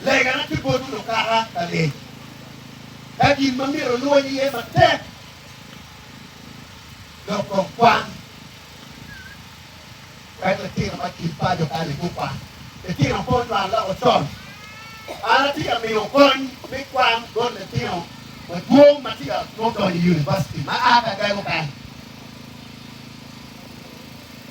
Legana ki boti lukaha ka lec ka gin ma myero olwony iye matek dok kong kwan wek litino ma kin paco kani gukwany. Litino pe onywal loko con. An atye ka miyo kony me kwan bot litino madwong ma tye ka nongo donyo i univaciti ma a ka gago kany.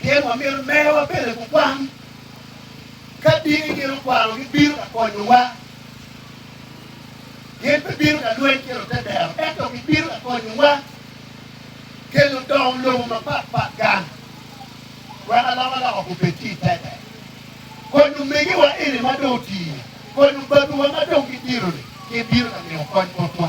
Pien wamito merowa pene ku kwang. Ka dini gin okwaro gibino ka konyowa, gin pe bino ka lweny ki Lutedero, ento gibino ka konyowa kelo dong lobo mapat pat gang wek alokaloka gubed ki i tete. Kony omegiwa eni ma dong oti, kony obabiwa ma dong gidiro-ni, gin bino ka miyo kony botwa.